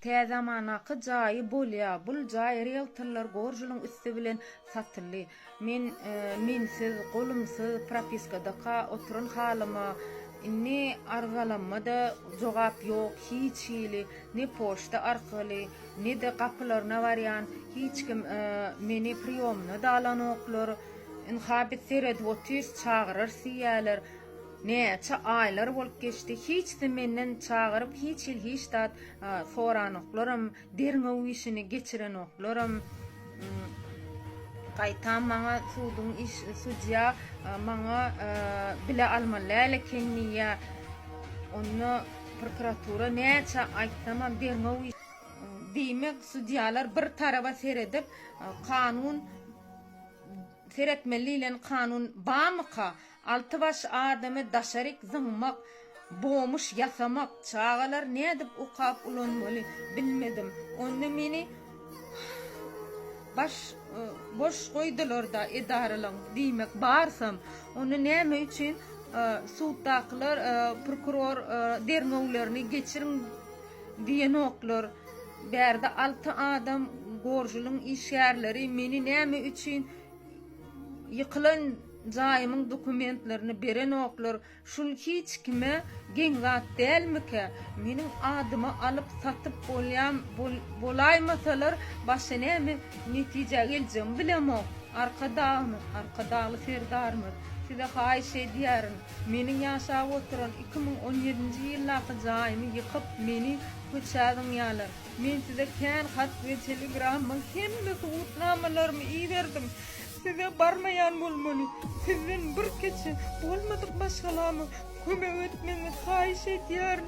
Tä zamanaky jaýy bolýa bul jaý rieltorlar gorjulyň üsti bilen satyldy men minsiz golumsyz propiskadaka oturan halyma indi arzalanma da jogap ýok hiç hili ne poçta arkaly ne de gapylaryna barýan hiç kim meni priýomyna da alanoklar ynha biz seredip otyrys çagyrarys diýýäler Näçe aýlar bolup geçdi, hiç-de menden çagyryp hiç hil hiç zat soranoklaram, derňew işini geçirenoklaram. Gaýtam maňa suduň iş, sudýa maňa bile almaly däl eken diýýä. Onda prokuratura näçe aýtsamam derňew iş. Diýmek sudýalar bir taraba seredip kanun seretmeli diýlen kanun barmyka? Alty baş adamy daşaryk zyňmak, bomuş ýasamak, çagalary nädip okap ulanmaly bilmedim. Onda meni baş boş goýdularda edaralaň diýmek barsam, onda näme üçin suddakylar prokuror derňewlerini geçiriň diýenoklar. Bärde alty adam gorjulyň işgärleri meni näme üçin ýykylan Jaýymyň dokumentlerini berenoklar, şul hiç kime geň zat dälmikä? Meniň adyma alyp satyp bolýam bolaýmasalar başa näme netijä geljegimi bilemok. Arkadagymyz, Arkadagly Serdarymyz, size haýyş edýärin, meniň ýaşap oturan iki müň on ýedinji ýyldaky jaýymy ýykyp, meni köçä zyňýalar. Men size kän hat we telegramma hemme subutnamalarymy iberdim. Size barmaýan bolmaly. Sizden bir keçe bolmadyk maşgalama kömek etmegiňizi haýyş edýärin.